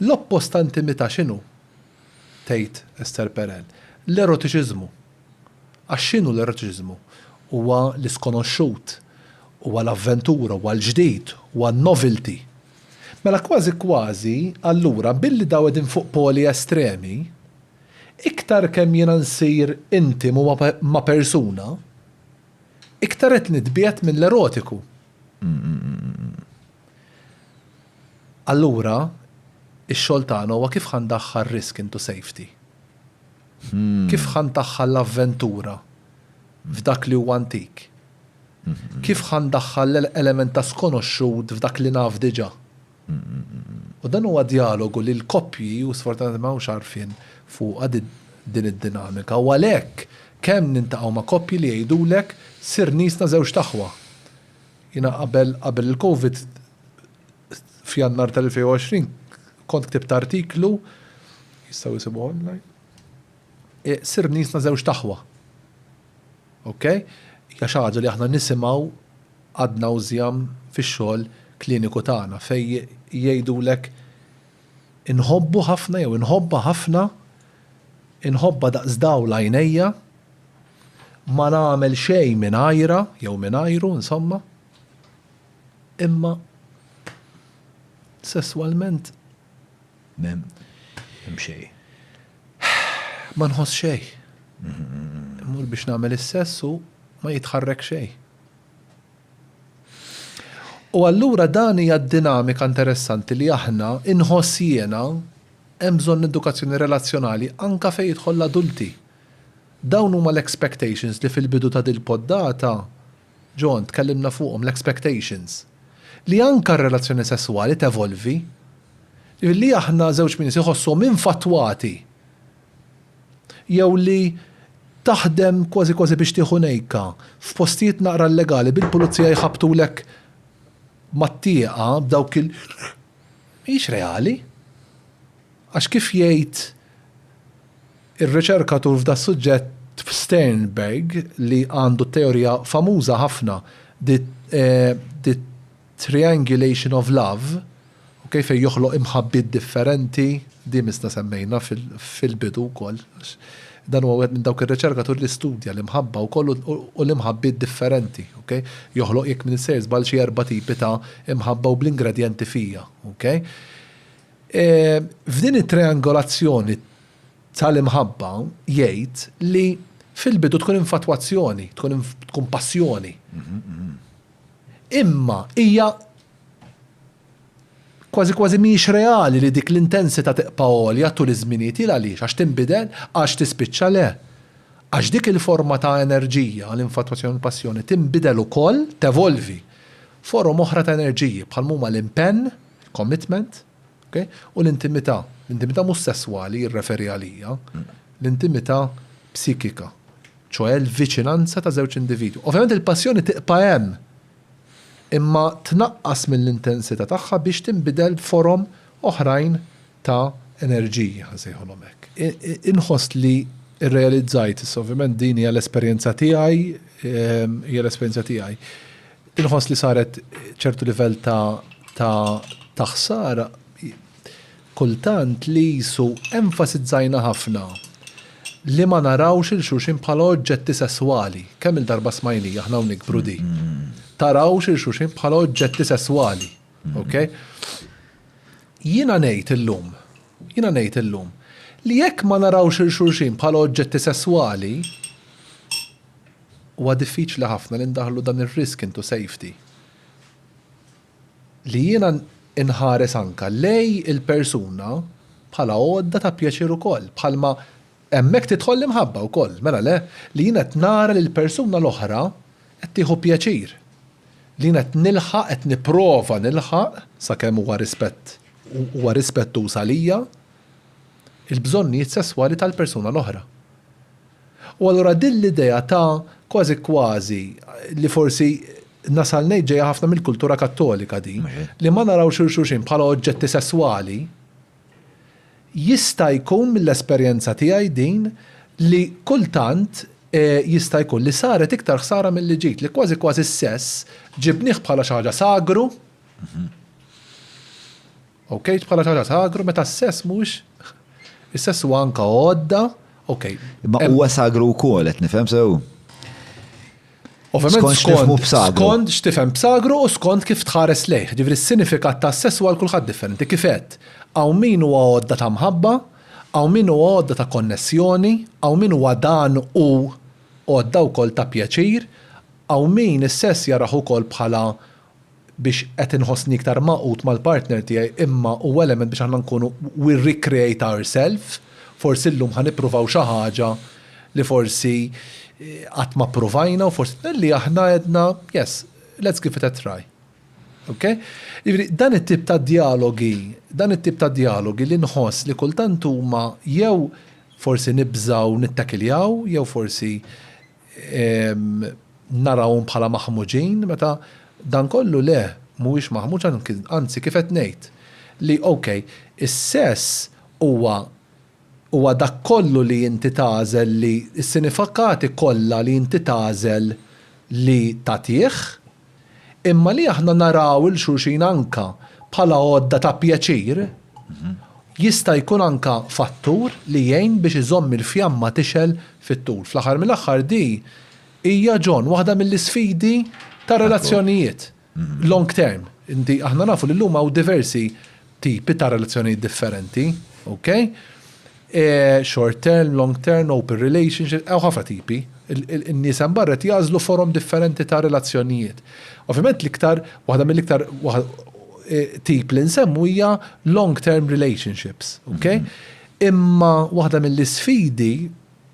L-oppost ta' intimità x'inhu? tgħid Esther Perel. L-erotiċiżmu. Għax x'inhu l-erotiċiżmu? Huwa l-iskonoxxut, huwa l-avventura, huwa l-ġdid, huwa n-novelty. Mela kważi kważi, allura, billi daw qegħdin fuq poli estremi, iktar kemm jiena nsir intimu ma' persuna, iktar qed nitbiegħed mill-erotiku. Allura, ix-xogħol tagħna huwa kif ħa ndaħħal risk into safety? Kif ħa ndaħħal l-avventura f'dak li huwa antik? Kif ħa ndaħħal element ta' skonoxxut f'dak li naf diġà? U dan huwa djalogu li l-koppji, u sfortunatament ma hawnx għarfien fuqha din id-dinamika, u għalhekk kemm niltaqgħu ma' koppji li jgħidulek sirnisna żewġt aħwa. Jiena qabel qabel il-Covid f'Jannar tal-2020 kont ktibt artiklu, jistgħu jsibuh online, Sirt nisna żewġt aħwa. Ok? Hija xi ħaġa li aħna nisimgħu ad nauseam fix-xogħol kliniku tagħna fejn jgħidulek Inħobbu ħafna jew inħobbha ħafna, inħobbha daqs dawl għajnejja, ma nagħmel xejn mingħajrha jew mingħajru insomma. Imma sesswalment m'hemm xejn. Ma nħoss xejn. Immur biex nagħmel is-sess u ma jitħarrek xejn. U allura dan hija d-dinamika interessanti li aħna, inħoss jiena, hemm bżonn edukazzjoni relazzjonali anke fejn jidħol l-adulti. Dawn huma l-expectations li fil-bidu ta' dil-poddata, John, tkellimna fuqhom, l-expectations. Li anke r-relazzjoni sesswali tevolvi. Li aħna żewġ min iħossuhom infattwati. jew li taħdem kważi kważi biex tieħu nejka f'postijiet naqra illegali bil-pulizija jħabbtulek mat-tieqa b'dawk il mhijiex reali. Għax kif jgħid ir-riċerkatur f'das-suġġett Sternberg li għandu teorija famuża ħafna, the, eh, the Triangulation of love, ok, fejn joħloq imħabbiet differenti, di misna semmejna fil-bidu wkoll, għax dan huwa wieħed minn dawk ir-riċerkaturi li studja l-imħabba wkoll u l-imħabbiet differenti, ok. Joħloq jekk m'iniex sejjer żball xi erba' tipi ta' imħabba u bl-ingredjenti fija, ok. F'din it-triangolazzjoni tal-imħabba jgħid li fil-bidu tkun infatwazzjoni, tkun passjoni. Imma hija kważi kważi mhijiex reali li dik l-intensità tibqa' għolja tul iż-żminijiet. Il għaliex? Għax tinbidel? Għax tispiċċa? Le. Għax dik il-forma ta' enerġija, l-infatwazzjoni u l-passjoni, tinbidel ukoll, tevolvi. Forom oħra ta' enerġiji, bħal m'huma l-impenn, commitment, Okej? U l-intimità, l-intimità mhux sesswali jirreferi għalija, l-intimità psikika, ċoe l-viċinanza ta' żewġ individwi. Ovvjament il-passjoni tibqa' hemm, imma tnaqqas mill-intensità tagħha biex tinbidel b'forom oħrajn ta' enerġiji, ħa nsejħulhom hekk. Inħoss li rrealizzajt, issa ovvjament din hija l-esperjenza tiegħi, hija l-esperjenza tiegħi. Inħoss li saret ċertu livell ta' ta' taħsara kultant li jisu enfasizzajna ħafna li ma narawx il xuxin bħala oġġetti sesswali. Kemm il-darba smajni aħna u nikbru di. Tarawx il xuxin bħala oġġetti sesswali. Okay? Jina nejt illum, jina nejt illum, li jekk ma narawx il xuxin bħala oġġetti sesswali, Huwa diffiċli ħafna li ndaħħlu dan ir-risk into safety. Li jiena nħares anke lej il-persuna bħala għodda ta' pjaċir ukoll, bħalma hemmhekk tidħol l-imħabba wkoll, mela le? Li jiena qed nara li l-persuna l-oħra qed tieħu pjaċir. Li jiena qed nilħaq, qed nipprova nilħaq, sakemm huwa rispett, huwa rispettuż għalija, il-bżonnijiet sesswali tal-persuna l-oħra. U allura din l-idea ta' kważi kważi, li forsi nasal ngħid ġejja ħafna mill-kultura Kattolika din, li ma narawx lil xulxin bħala oġġetti sesswali, jista' jkun mill-esperjenza tiegħi din li kultant jista' jkun li saret iktar ħsara milli ġiet, li kważi kważi s-sess ġibnieh bħala xi ħaġa sagru, Okay, bħala xi ħaġa sagru meta s-sess mhux is-sess huwa anke għodda, okay. Imma huwa sagru wkoll qed nifhem sew? Ovvjament skont skont x'tifhem b'sagru u skont kif tħares lejh. Ġifri s-sinifikat ta' sess huwa kulħadd differenti. Kifet, hawn min huwa għodda ta' mħabba, hawn min huwa għodda ta' konnessjoni, hawn min huwa dan u għodda wkoll ta' pjaċir, hawn min is-sess jaraħ ukoll bħala biex qed inħossni iktar magħqud mal-partner tiegħi imma huwa element biex aħna nkunu we recreate ourselves, forsi llum ħa nippruvaw xi ħaġa li forsi qatt ma ppruvajna u forsi li aħna għedna yes, let's give it a try. Ok? Jiġifieri dan it-tip ta' djalogi, dan it-tip ta' djalogi li nħoss li kultant huma jew forsi nibżgħu nittakiljaw jew forsi narawhom bħala maħmuġin meta dan kollu le, mhuwiex maħmuġ anzi kif qed ngħid li ok, is-sess huwa huwa dak kollu li inti tagħżel li s-sinifikati kollha li inti tagħżel li tagħtih, Imma li aħna naraw 'il xulxin anka bħala għodda ta' pjaċir jista' jkun anka fattur li jgħin biex iżomm il-fjamma tixgħel fit-tul. Fl-aħħar mill-aħħar di hija, John, waħda mill-isfidi tar-relazzjonijiet long term. Inti, aħna nafu li llum hawn diversi tipi ta' relazzjonijiet differenti, ok? Short term, long term, open relationship, hawn ħafna tipi. In-nies hemm barra qed jagħżlu forom differenti ta' relazzjonijiet. Ovvjament l-iktar, waħda mill-iktar tip li nsemmu hija long term relationships, ok? Imma waħda mill-isfidi,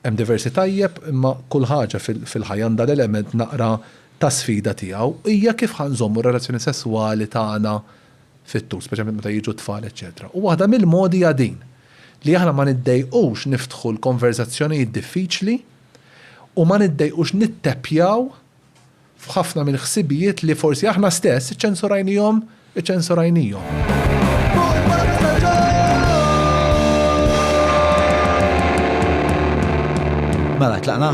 hemm diversi tajjeb, imma kull ħaġa fil-ħajja għandha l-element naqra ta' sfida tiegħu, hija kif ħa nżommu r-relazzjoni sesswali tagħna fit-tul, speċjalment meta jiġu t-tfal eċċetera. U waħda mill-modi hija din, li aħna ma niddejqux niftħu l-konverżazzjonijiet diffiċli u ma niddejqux nitteppjaw f'ħafna mill-ħsibijiet li forsi aħna stess iċċensurajnihom, iċċensurajnihom. Mela, tlaqna?